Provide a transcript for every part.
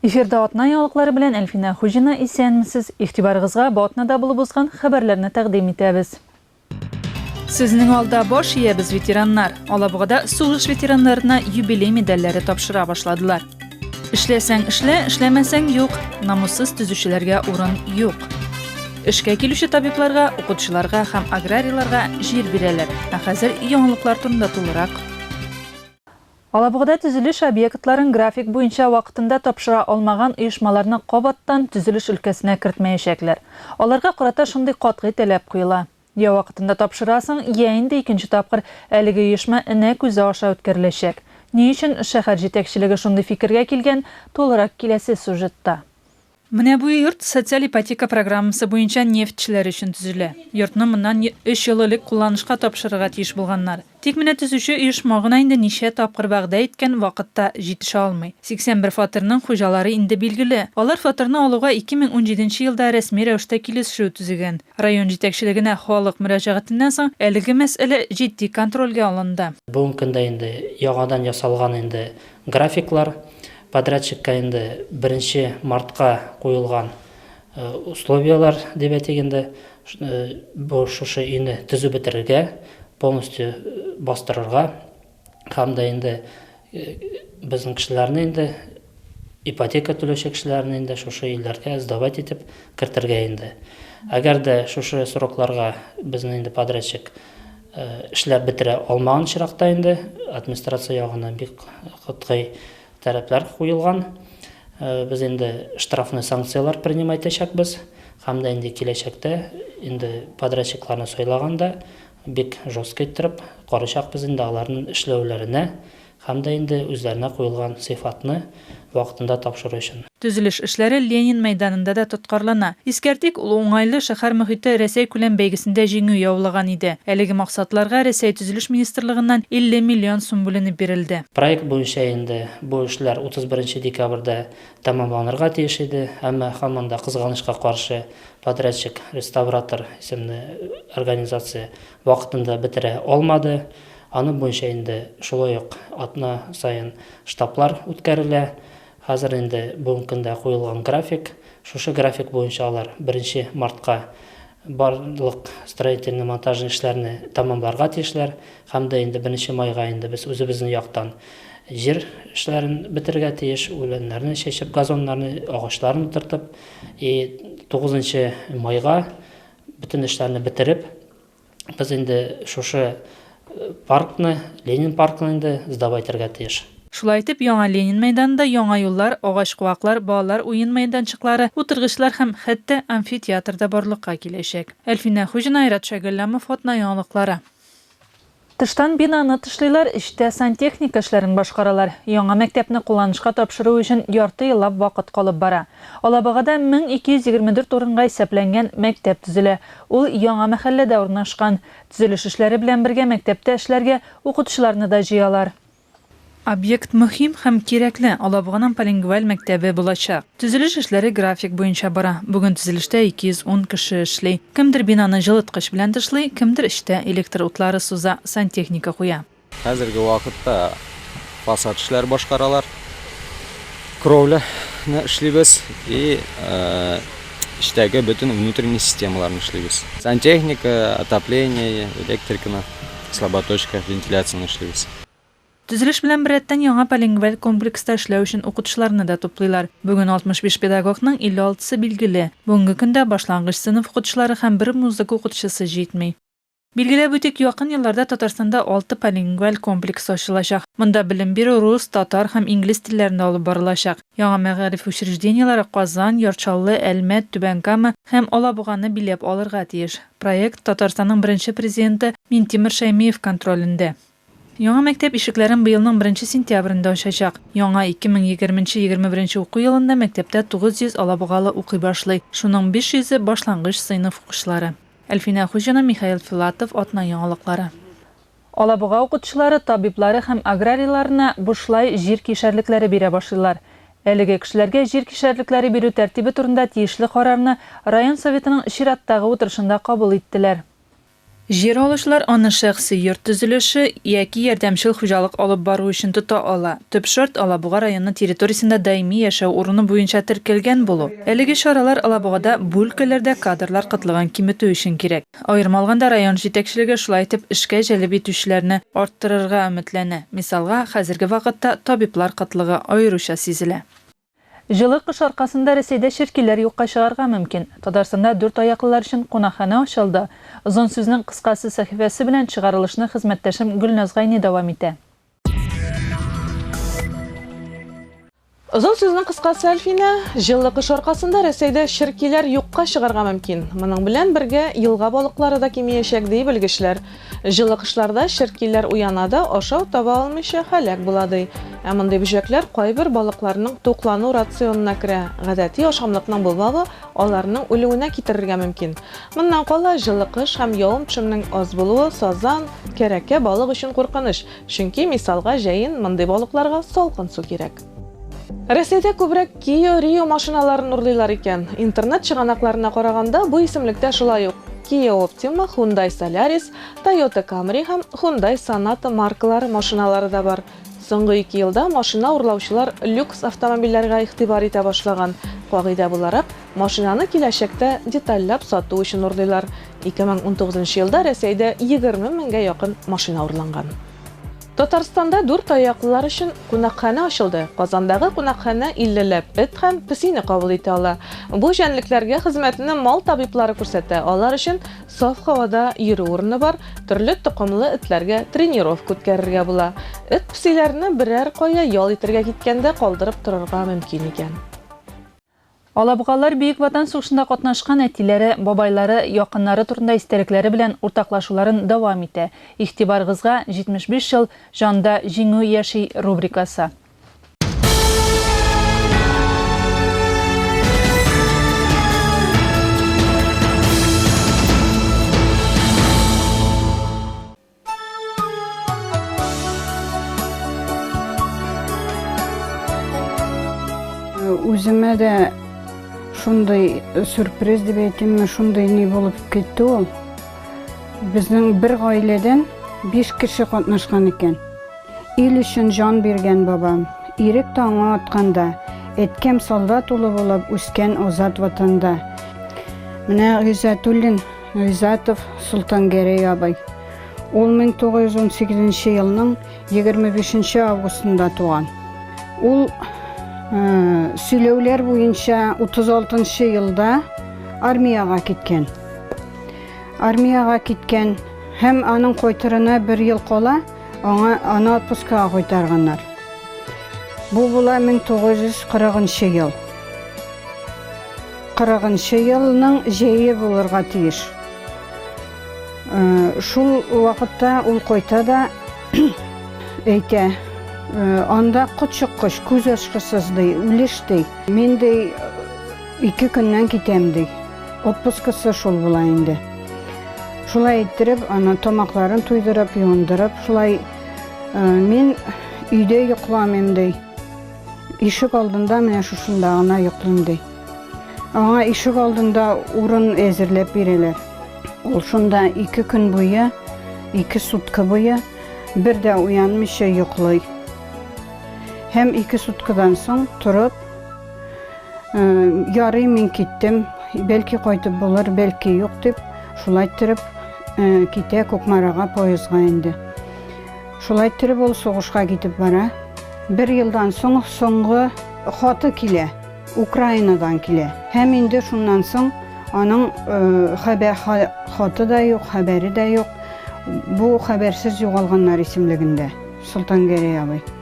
Эфирда атна яңалыклары белән Әлфинә Хуҗина, исәнмесез! Игътибарыгызга бу атнада булып узган хәбәрләрне тәкъдим итәбез. Сезнең алда баш иябез ветераннар. Алабугада сугыш ветераннарына юбилей медальләре тапшыра башладылар. Эшләсәң эшлә, эшләмәсәң юк, намуссыз төзүчеләргә урын юк. Эшкә килүче табибларга, укытучыларга һәм аграрийларга җир бирәләр. Ә хәзер яңалыклар турында тулырак. Алабугада төзелеш объектларын график буенча вакытында тапшыра алмаган оешмаларны кабаттан төзелеш өлкәсенә кертмәячәкләр. Аларга карата шундый катгый таләп куела, я вакытында тапшырасың, я инде икенче тапкыр әлеге оешма энә күзе аша үткәреләчәк. Ни өчен шәһәр җитәкчелеге шундый фикергә килгән, тулырак киләсе сюжетта. Менә бу йорт социаль ипотека программасы буенча нефтьчеләр өчен төзелә. Йортны моннан өч ел элек кулланышка тапшырырга тиеш булганнар. Тик менә төзүче оешма гына инде ничә тапкыр вәгъдә иткән вакытта җитешә алмый. 81 фатирның хуҗалары инде билгеле. Алар фатирны алуга 2017 нче елда рәсми рәвештә килешешү төзегән. Район җитәкчелегенә халык мөрәҗәгатеннән соң әлеге мәсьәлә җитди контрольгә алынды. Бүгенге көндә инде яңадан ясалган инде графиклар, Подрядчикка инде беренче мартка куелган условияләр дип әйтик инде, бу шушы өйне төзеп бетерергә, полностью бастырырга һәм дә инде безнең кешеләрне инде, ипотека түләүче кешеләрне инде шушы өйләргә сдавать итеп кертергә инде. Әгәр дә шушы срокларга безне инде подрядчик Эшләп бетерә алмаган очракта инде администрация ягына бик катгый таләпләр куелган. Без инде штрафный санкцияләр принимать итәчәкбез һәм дә инде киләчәктә инде подрядчикларны сайлаганда бик жестко иттереп карыйчакбыз инде аларның эшләүләренә, Һәм дә инде үзләренә куелган сыйфатны вакытында тапшыру өчен. Төзелеш эшләре Ленин мәйданында да тоткарлана. Искәртик, ул уңайлы шәһәр мохите Рәсәйкүләм бәйгесендә җиңү яулаган иде. Әлеге максатларга Рәсәй Төзелеш министрлыгыннан 50 миллион сум бүленеп бирелде. Проект буенча инде бу эшләр 31 декабрьдә тәмамланырга тиеш иде, әмма һаман да, кызганычка каршы, подрядчик, реставратор исемле организация вакытында бетерә алмады. Аның буенча инде шулай ук атна саен штаблар үткәрелә. Хәзер инде бүгенге көндә куелган график. Шушы график буенча алар беренче мартка барлык строительный-монтажный эшләрне тәмамларга тиешләр һәм дә инде беренче майга инде без үзебезнең яктан җир эшләрен бетерергә тиеш, үләннәрне чәчеп, газоннарны, агачларын утыртып. И тугызынчы майга Бөтен эшләрне бетереп, без инде шушы паркны, Ленин паркын инде сдавать итәргә тиеш. Шулай итеп, яңа Ленин мәйданында яңа юллар, агач-куаклар, балалар уен мәйданчыклары, утыргычлар һәм, хәтта, амфитеатр да барлыкка киләчәк. Әлфинә Хуҗина, Айрат Шәйгалләмов, Атна яңалыклары. Тыштан бинаны тышлыйлар, эчтә сантехника эшләрен башкаралар. Яңа мәктәпне кулланышка тапшыру өчен ярты еллап вакыт калып бара. Алабугада 1224 урынга исәпләнгән мәктәп төзелә. Ул яңа мәхәлләдә урнашкан. Төзелеш эшләре белән бергә мәктәптә эшләргә укытучыларны да җыялар. Объект мөһим һәм кирәкле, Алабуганың полингваль мәктәбе булачак. Төзелеш эшләре график буенча бара. Бүген төзелештә 210 кеше эшли. Кемдер бинаны җылыткыч белән тышлый, кемдер эчтә электр утлары суза, сантехника куя. Хәзерге вакытта фасад эшләре башкаралар. Кровляны эшлибез и эчтәге бөтен внутренний системаларны эшлибез. Сантехника, отопление, электриканы. Слаботочка вентиляцияне эшлибез. Төзелеш белән беррәттән яңа полингваль комплекста эшләү өчен укытучыларны да туплыйлар. Бүген 65 педагогның 56 сы билгеле. Бүгенге көндә башлангыч сыйныф укытучылары һәм бер музыка укытучысы җитми. Билгеләп үтик, якын елларда Татарстанда алты полингваль комплекс ачылачак. Монда белем бирү рус, татар һәм инглиз телләрендә алып барылачак. Яңа мәгариф учреждениеләре Казан, Яр Чаллы, Әлмәт, Түбән Кама һәм Алабуганы биләп алырга тиеш. Проект Татарстанның беренче Президенты Минтимер Шәймиев контролендә. Яңа мәктәп ишекләрен быелның беренче сентябрендә ачачак. Яңа 2020 нче 21 нче уку елында мәктәптә 900 алабугалы укый башлый, шуның 500 е, башлангыч сыйныф укучылары. Әлфинә Хуҗина, Михаил Филатов, Атна яңалыклары. Алабуга укытучылары, табиблары һәм аграрийларына бушлай җир кишәрлекләре бирә башлыйлар. Әлеге кешеләргә җир кишәрлекләре бирү тәртибе турында тиешле карарны район Советының чираттагы утырышында кабул иттеләр. Җир алучылар аны шәхси йорт төзелеше яки ярдәмчел хуҗалык алып бару өчен тота ала. Төп шарт, Алабуга районы территориясендә даими яшәү урыны буенча теркәлгән булу. Әлеге чаралар Алабугада бу өлкәләрдә кадрлар кытлыгын киметү өчен кирәк. Аерым алганда, район җитәкчелеге шулай итеп эшкә җәлеп итүчеләрне арттырырга өметләнә. Мисалга, хәзерге вакытта табиблар кытлыгы аеруча сизелә. Җылы кыш аркасында Рәсәйдә черкиләр юкка чыгарга мөмкин. Татарстанда дүрт аяклылар өчен кунакханә ачылды. Озын сүзнең кыскасы сәхифәсе белән чыгарылышны хезмәттәшем Гөлназ Гайни дәвам итә. Озын сүзнең кыскасы Әлфинә, җылы кыш аркасында Рәсәйдә черкиләр юкка чыгарга мөмкин. Моның белән бергә елга балыклары да кимиячәк, ди белгечләр. Җылы кышларда черкиләр уяна да, ашау таба алмыйча һәлак була, ди. Ә мондый бөҗәкләр кайбер балыкларның туклану рационына керә. Гадәти ашамлыкның булмавы Аларның үлүенә китерергә мөмкин. Моннан кала, җылы кыш һәм явым-төшемнең аз булуы сазан, кәрәкә, балык өчен куркыныч, чөнки, мисалга, җәен мондый балыкларга салкын су кирәк. Рәсәйдә күбрәк Кио Рио машиналарын урлыйлар икән. Интернет чыганакларына караганда, бу исемлектә шулай ук Киа Оптима, Хундай Солярис, Тойота Камри һәм Хундай Соната маркалары машиналары да бар. Соңгы ике елда машина урлаучылар люкс автомобильләргә игътибар итә башлаган. Кагыйдә буларак, машинаны киләчәктә детальләп сату өчен урлыйлар. 2019 нчы елда Рәсәйдә егерме меңгә якын машина урланган. Татарстанда дүрт аяклылар өчен кунакханә ачылды. Казандагы кунакханә иллеләп эт һәм песине кабул итә ала. Бу җәнлекләргә хезмәтне мал табиблары күрсәтә, алар өчен Саф һавада йөрү урыны бар, төрле токымлы этләргә тренировка үткәрергә була. Эт песиләрне берәр кая ял итәргә киткәндә калдырып торырга мөмкин икән. Алабугалылар Бөек Ватан сугышында катнашкан әтиләре, бабайлары, якыннары турында истәлекләре белән уртаклашуларын дәвам итә. Игътибарыгызга, 75 ел, җанда җиңү яши рубрикасы. Үземә дә шундый сюрприз дип әйтимме, шундый ни булып китте ул. Безнең бер гаиләдән биш кеше катнашкан икән. Ил өчен җан биргән бабам, Ирек таңы атканда, Әткәм солдат улы булып Үскән азат ватанда. Менә Гыйззәтуллин Гыйззатов Солтангәрәй абый. Ул 1918 елның 25 августында туган. Ул сөйләүләр буенча 36 елда армиягә киткән. Армиягә киткән һәм аның кайтырына бер ел кала Аңа аны отпускага кайтарганнар. Бу була 1940 ел. 40 елның җәе булырга тиеш. Э, шул вакытта ул кайта да әйтә, э, анда котчыккыч, күз ачкысыз ди, үлеш ди. Мин ди, Ике көннән китәм ди. Отпускысы шул була инде. Шулай иттереп, аны тамакларын туйдырып, юындырып, шулай э, мин өйдә йокламыйм ди. Ишек алдында менә шушында гына йоклыйм ди. Аңа ишек алдында урын әзерләп бирәләр. Ул шунда ике көн буе, ике сутка буе бер дә уянмыйча йоклый. Һәм ике суткадан соң торып, Ярый мин киттем, бәлки кайтып булыр, бәлки юк дип, шулай иттереп э, китә Кукмарага поездга инде. Шулай иттереп ул сугышка китеп бара. Бер елдан соң соңгы хаты килә, Украинадан килә. Һәм инде шуннан соң аның э, хәбәр хаты да юк, хәбәре дә юк. Бу хәбәрсез югалганнар исемлегендә Солтангәрәй абый.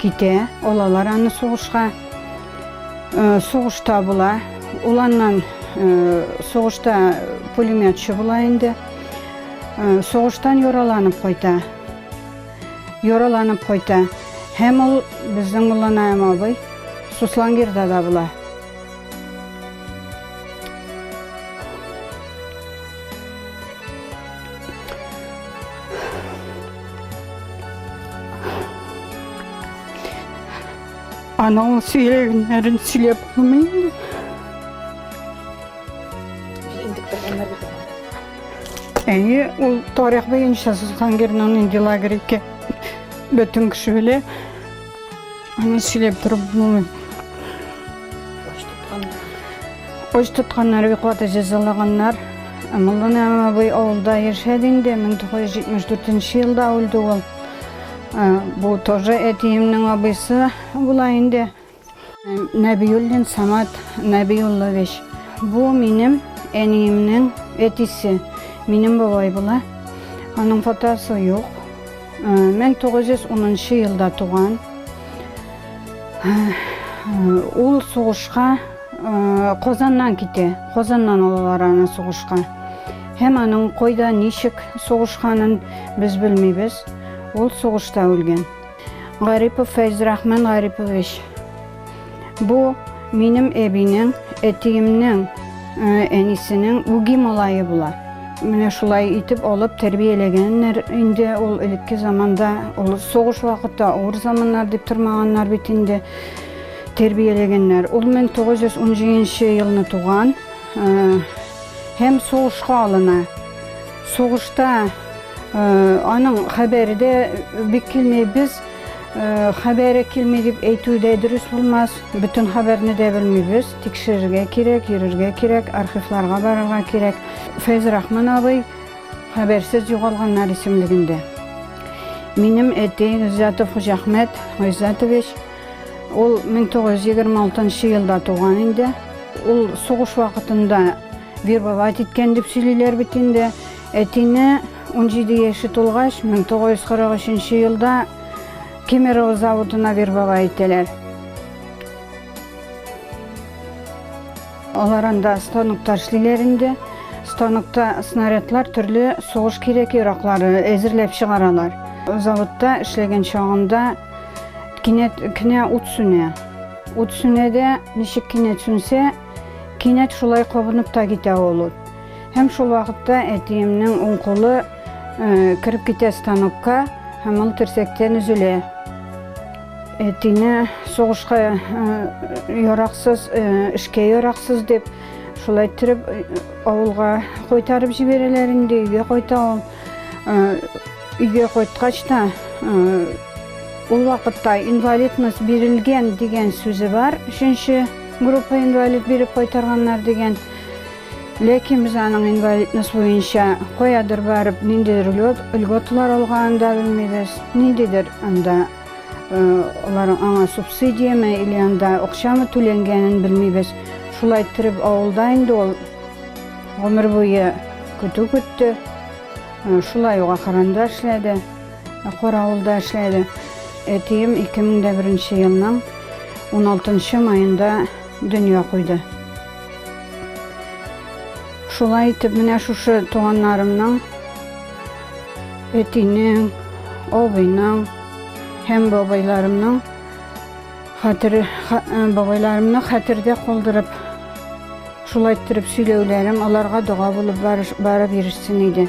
Китә, алалар аны сугышка. Э, сугышта була. Ул аннан э, сугышта пулеметчы була инде. Э, сугыштан яраланып кайта. Яраланып кайта. Һәм ул безнең Мулланаем абый Суслангирда да була. Аның сөйләгәннәрен сөйләп булмый инде. Әйе, ул тарих буенча Сусхангерның нинди лагерь икән бөтен кеше белә. Аны сөйләп торып булмый. Оч тотканнар, виклата җәзалаганнар. Муллан абый авылда яшәде инде, 1974 елда үлде ул. Бу тоже әтиемнең абыйсы була инде. Нәбиуллин Самат Нәбиуллович. Бу минем әниемнең әтисе. Минем бабай була. Аның фотосы юк. 1910 э, елда туган. Э, ул сугышка э, Казаннан китә. Казаннан алалар аны сугышка. Һәм аның кайда, ничек сугышканын без белмибез. Ул сугышта үлгән. Гарипов Фәйзрахман Гарипович. Бу минем әбинең, әтиемнең, э, әнисенең үги малае була. Менә шулай итеп алып тәрбияләгәннәр инде ул элекке заманда, ул сугыш вакыты, авыр заманнар дип тормаганнар бит инде тәрбияләгәннәр. Ул 1917 елны туган э, һәм сугышка алына. Сугышта аның хәбәре дә бик килми. Без хәбәре килми дип әйтү дә дөрес булмас. Бөтен хәбәрне дә белмибез. Тикшерергә кирәк, йөрергә кирәк, архивларга барырга кирәк. Фәйз Рахман абый хәбәрсез югалганнар исемлегендә. Минем әти Гыйззатов Хуҗахмәт Гыйззатович ул 1926 елда туган инде. Ул сугыш вакытында Вербовать иткән дип сөйлиләр бит инде. Әтине 17 яше тулгач, 1943 елда Кемерово заводына вербовать итәләр. Алар анда станокта эшлиләр инде. Станокта снарядлар төрле сугыш кирәк яраклары әзерләп чыгаралар. Заводта эшләгән чагында кинәт кенә ут сүнә. Ут сүнә дә, ничек кинәт сүнсә, Кинәт шулай кабынып та китә ул ут. Һәм шул вакытта әтиемнең уң кулы э, кереп китә станокка һәм ул терсәктән өзелә. Әтине сугышка э, яраксыз, э, эшкә яраксыз дип шулай иттереп авылга кайтарып җибәрәләр инде, өйгә кайта ул. Өйгә кайткач та ул вакытта инвалидность бирелгән дигән сүзе бар, өченче Группа инвалид биреп кайтарганнар дигән. Ләкин без аның инвалидность буенча каядыр барып, ниндидер льготалар алганын да белмибез. Ниндидер анда алар аңа субсидиямы или анда акчамы түләнгәнен белмибез. Шулай иттереп авылда инде ул гомер буе көтү көтте. Шулай ук ахырында эшләде. Каравылда эшләде. Әтием 2001 елның 16 маенда дөнья куйды. Шулай итеп, менә шушы туганнарымның, әтинең, абыйның һәм бабайларымның хәтер бабайларымны хәтердә калдырып, шулай иттереп сөйләүләрем аларга дога булып барып ирешсен иде.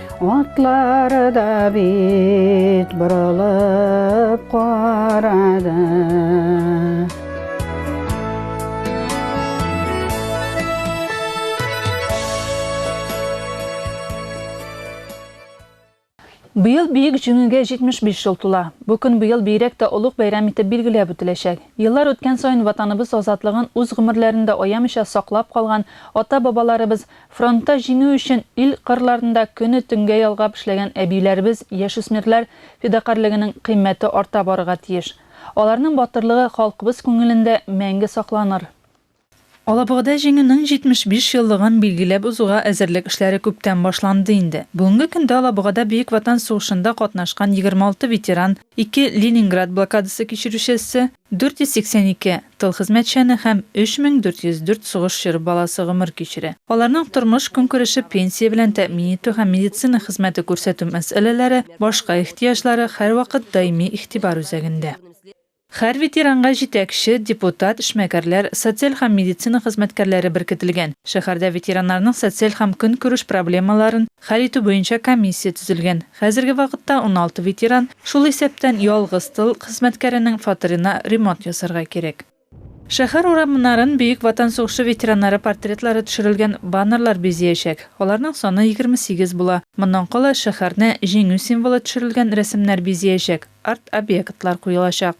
Атлары да бит борылып карады. Быел Бөек Җиңүгә 75 ел тула. Бу көн быел бигрәк тә олуг бәйрәм итеп билгеләп үтеләчәк. Еллар үткән саен Ватаныбыз азатлыгын үз гомерләрен дә аямыйча саклап калган ата-бабаларыбыз Фронтта җиңү өчен ил кырларында көне төнгә ялгап эшләгән әбиләребез, яшүсмерләр фидакарьлегенең кыйммәте арта барырга тиеш. Аларның батырлыгы халкыбыз күңелендә мәңге сакланыр. Алабугада Җиңүнең 75 еллыгын билгеләп узуга әзерлек эшләре күптән башланды инде. Бүгенге көндә Алабугада Бөек Ватан сугышында катнашкан 26 ветеран, ике Ленинград блокадасы кичерүчесе, 482 тыл хезмәтчәне һәм 3404 сугыш чоры баласы гомер кичерә. Аларның тормыш-көнкүреше, пенсия белән тәэмин итү һәм медицина хезмәте күрсәтү мәсьәләләре, башка ихтыяҗлары һәрвакыт даими игътибар үзәгендә. Һәр ветеранга җитәкче, депутат, эшмәкәрләр, социаль һәм медицина хезмәткәрләре беркетелгән. Шәһәрдә ветераннарның социаль һәм көнкүреш проблемаларын хәл итү буенча комиссия төзелгән. Хәзерге вакытта уналты ветеран, Шул исәптән ялгыз тыл хезмәткәренең фатирына ремонт ясарга кирәк. Шәһәр урамнарын Бөек Ватан сугышы ветераннары портретлары төшерелгән баннерлар бизиячәк. Аларның саны егерме сигез була. Моннан кала шәһәрне Җиңү символы төшерелгән рәсемнәр бизиячәк, арт-объектлар куелачак.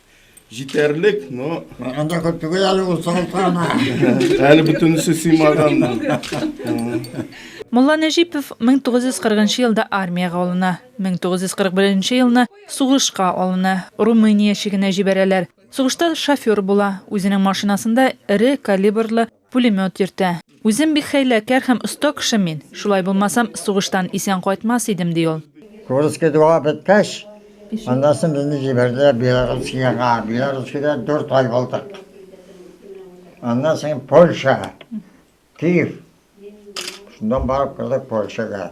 Җитәрлек, но... Бергәндә күп түгел әле ул сылтама. Әле бөтенесе сыймаган. Мулла Нәҗипов 1940 елда армиягә алына. 1941 елны сугышка алына. Румыния чигенә җибәрәләр. Сугышта шофер була. Үзенең машинасында эре калибрлы Пулемет йөртә. Үзем бик хәйләкәр һәм оста кеше мин. Шулай булмасам, сугыштан исән кайтмас идем, ди ул. Курский дуга беткәч, аннан соң безне җибәрделәр Белорусскиягә. Белорусскиядә дүрт ай булдык. Аннан соң Польша, Киев. Шуннан барып кердек Польшага.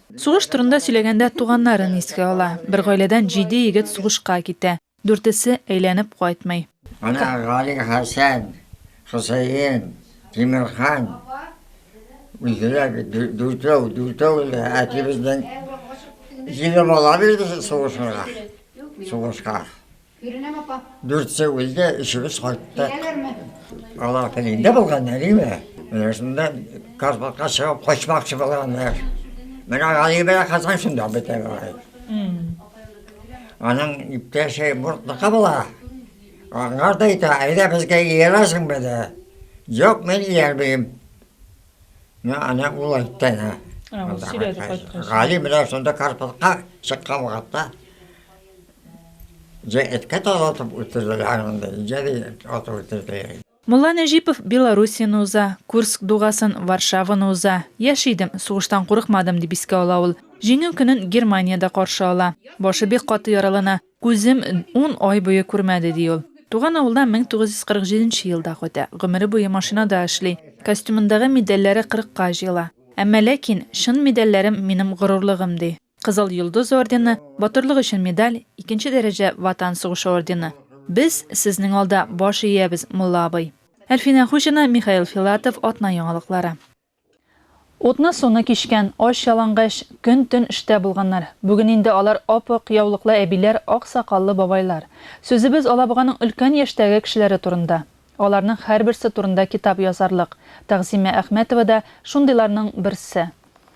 Сугыш турында сөйләгәндә туганнарын искә ала. Бер гаиләдән җиде егет сугышка китә. Дүртесе әйләнеп кайтмый. Менә Гали Хәсән, Хөсәен, Тимерхан, үзләр дүртәү, дүртәү дә әтибезнең җиде бала бирде сугышырга, сугышка. Күренәме, апа? Дүртсе үлде, өчебез кайттык. Киләләрме? Алар телендә булган әлеме? Менә шунда Карпатка чыгып качмакчы булганнар. Менә Гали белән Хәсән шунда бетә бара. Аның иптәше Мортныкы була. Аңар да әйтә, әйдә безгә иярәсең беде. Юк, мин иярмим. Ну, аны ул әйтте ана. А, ул сөйләде кайткач. Гали менә шунда Карпатка чыккан вакытта Җә эткә талатып үтерделәр монда, җә дә атып үтерделәр. Мулла Нәҗипов Белоруссияне уза, Курск дугасын, Варшаваны уза. Яшь идем, сугыштан курыкмадым, дип искә ала ул. Җиңү көнен Германиядә каршы ала. Башы бик каты яралана, күзем ун ай буе күрмәде, ди ул. Туган авылына 1947 нче елда кайта. Гомере буе машинада эшли. Костюмындагы медальләре кырыкка җыела. Әмма ләкин, чын медальләрем, минем горурлыгым, ди. Кызыл Йолдыз ордены, Батырлык өчен медаль, икенче дәрәҗә Ватан сугышы ордены. Без Сезнең алда баш иябез, мулла абый. Әлфинә Хуҗина, Михаил Филатов, Атна яңалыклары. Утны-суны кичкән, ач-ялангач, көн-төн эштә булганнар. Бүген инде алар ап-ак яулыклы әбиләр, ак сакаллы бабайлар. Сүзебез Алабуганың өлкән яшьтәге кешеләре турында. Аларның һәрберсе турында китап язарлык. Тәгъзимә Әхмәтова да шундыйларның берсе.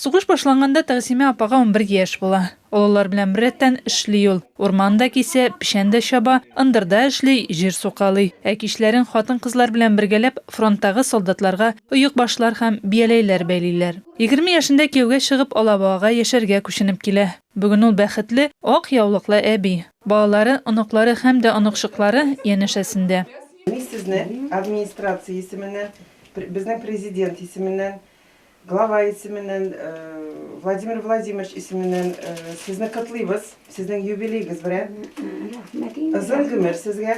Сугыш башланганда Тәгъзимә апага унбер яшь була. Олылар белән беррәттән эшли ул. Урман да кисә, печән дә чаба, ындырда эшли, җир сукалый. Ә кичләрен хатын-кызлар белән бергәләп фронттагы солдатларга оекбашлар һәм бияләйләр бәйлиләр. Егерме яшендә кияүгә чыгып, Алабугага яшәргә күченеп килә. Бүген ул бәхетле, ак яулыклы әби. Балалары, оныклары һәм дә оныкчыклары янәшәсендә. Мин сезне администрация исеменнән, безнең Президент исеменнән, Глава исеменнән, Владимир Владимирович исеменнән сезне котлыйбыз, сезнең юбилеегыз белән. Рәхмәт инде. Озын гомер сезгә.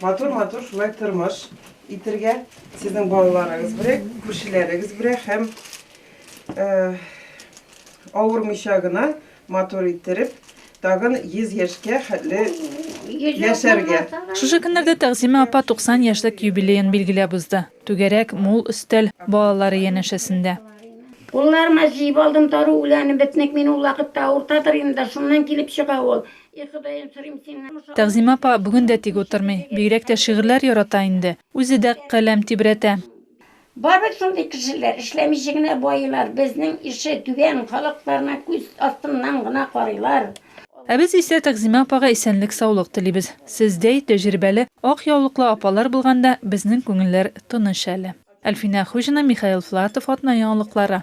Матур-матур шулай тормыш итергә, сезнең балаларыгыз белән, күршеләрегез белән һәм авырмыйча гына Матур иттереп, тагын 100 яшькә хәтле яшәргә! Шушы көннәрдә Тәгъзимә апа 90 яшьлек юбилеен билгеләп узды. Түгәрәк, мул өстәл, балалары янәшәсендә. Кулларыма җыеп алдым дару үләнен, бетнек мин ул вакытта авыртадыр инде дә, шуннан килеп чыга ул. И Ходаем, сорыйм синнән, шушы авыр Тәгъзимә апа бүген дә тик утырмый, бигрәк тә шигырьләр ярата инде, үзе дә каләм тибрәтә. Бар бит шундый кешеләр, эшләмичә генә баилар, безнең ише түбән, халыкларына күз астыннан гына карыйлар. Ә без исә Тәгъзимә апага исәнлек-саулык телибез. Сездәй тәҗрибәле, ак яулыклы апалар булганда, безнең күңелләр тыныч әле. Әлфинә Хуҗина, Михаил Флатов, Атна яңалыклары.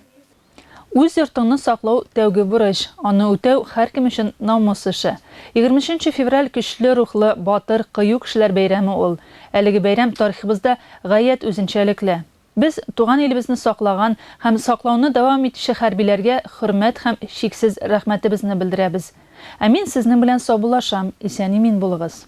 Үз йортыңны саклау, тәүге бурыч. Аны үтәү, һәркем өчен намус эше. Егерменченче февраль көчле рухлы, батыр, кыю кешеләр бәйрәме ул. Әлеге бәйрәм тарихыбызда гаять үзенчәлекле. Без, туган илебезне саклаган һәм саклауны дәвам итүче хәрбиләргә хөрмәт һәм чиксез рәхмәтебезне белдерәбез. Ә мин сезнең белән саубуллашам, исән-имин булыгыз!